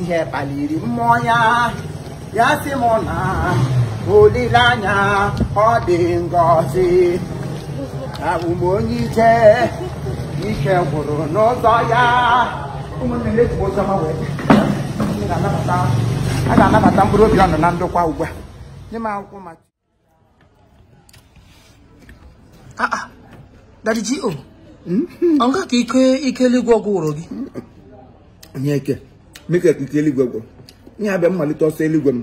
ihe kpaliri mmụọ ya ya sị m na olileanya ọ dị ngọzi abụ m onye ije ike gwụrụ n'ụzọ ya ụmụnne m eji ụzọ ha wee a ga-anabata mkpụrụ obi ọnụ na ndokwa ugbu a nye m akwụkwọ maka Ah, ah. Daddy G.O. ọ nga ka ike ike eluigwe gwụrụ gị onye ike mike ka ike eluigwe gwụrụ ihe abịa mmalite ọsọ eluigwe m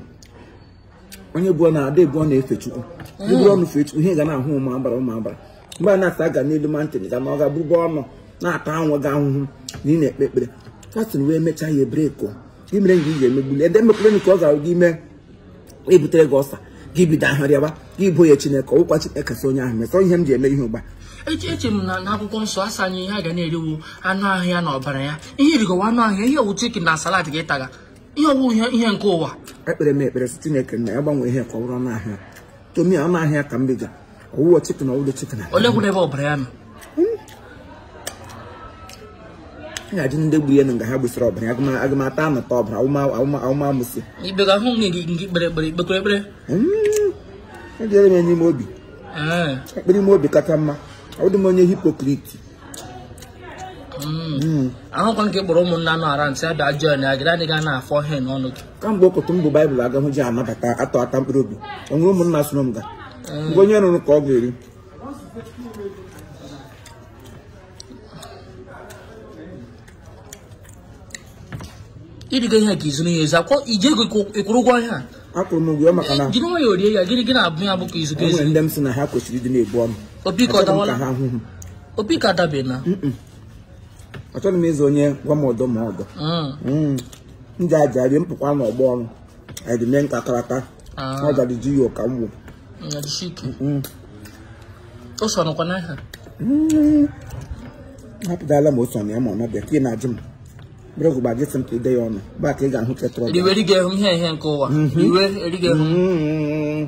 onye bụ na a da-ebu ọnụ efe chukwu buru ọnụ fee chukwu ihe ga na-ahụ ụmụ agbara ụmụ agbara mgbe a na-asa aga n'elu mountain ga na ọ ga bụbụ ọnụ na-ata onwe gị ahụhụ na ị na-ekpe ekpere fasting wee mechaa ya ebreko gị mere nga ị ga-emegbuli ede emekwere ka ọ ga-ahụ gị mee ebutere gị ulcer gị bido ahụ rịaba gị ị bo ya chineke ọ wụkwa chineke sị onye ahụ mesọ ihe m ji eme ihe ugbu a eche m na akwụkwọ nsọ asị anyị ihe a ga na-eriwu anụ ahụ ya na ọbara ya ihe irigowa anụ ahụ ya ihe ọ wụ chicken na salad gị taga ihe ọ wụ ihe nke ụwa ekpere m ekpere sị chineke na ya gbanwee ihe ka ọ bụrụ anụ ahụ ya tomi anụ ahụ ya ka m bega ọwụwa chicken ọwụda chicken onye kwuru ebe ọbara ya nọ ya adị ndị gburu ya na nga ha gbusịrị ọbara ya agụma- agụmata anụta ọbara awụmamụsị ibega hụ nke nke nke kpere ekpere ikpekwere ekpere edere m n'ime obi Ee. ekpere ime obi kacha mma ọ dị m onye hypocrite Mm. ahụkwa nke kpọrọ ụmụnna nọ ara ntị abịa jụọ na agịrị adịghị a na-afọ ihe n'ọnụ gị kamgbe okotu mbụ baịbụl agahụ ji anabata atọ ata mkpụrụ obi o nwere ụmụnna soro m ga mgbe onye rụrụ ka ọ ga-eri ịdịga ihe ka izuru ya ezu akwọ i ji ego ị kwụrụ ụgwọ ihe a akwụrụ m ụgwọ maka na jiri nwayọọ rie ya gịnị gị na-abụ ya bụ ka izu enwere ndị m si na ha kwesịrị ịdị na-ebu ọnụ obi ka ọ Achọghị m dawala ka ha hụ m. obi ka adabe na achọghị m ịzụ onye gwa m ọdọ ma ọdọ Mm. ndị aja rie mpụkwa n'ọgbọ ọrụ edime nka karata Ah, ọ gara ji ya ọka mgbu ya dịsi ike. O so nọkwa n'aha. hapụtala ma o so na ya ma ọ nọbịa ka ị na-ajụ m brọgụ gbaji sị m ka ide ya ọnụ baa ka ị ga-ahụ ketụrụ Riwe erighị ehu ihe ihe nke ụwa. Riwe erighị ehu.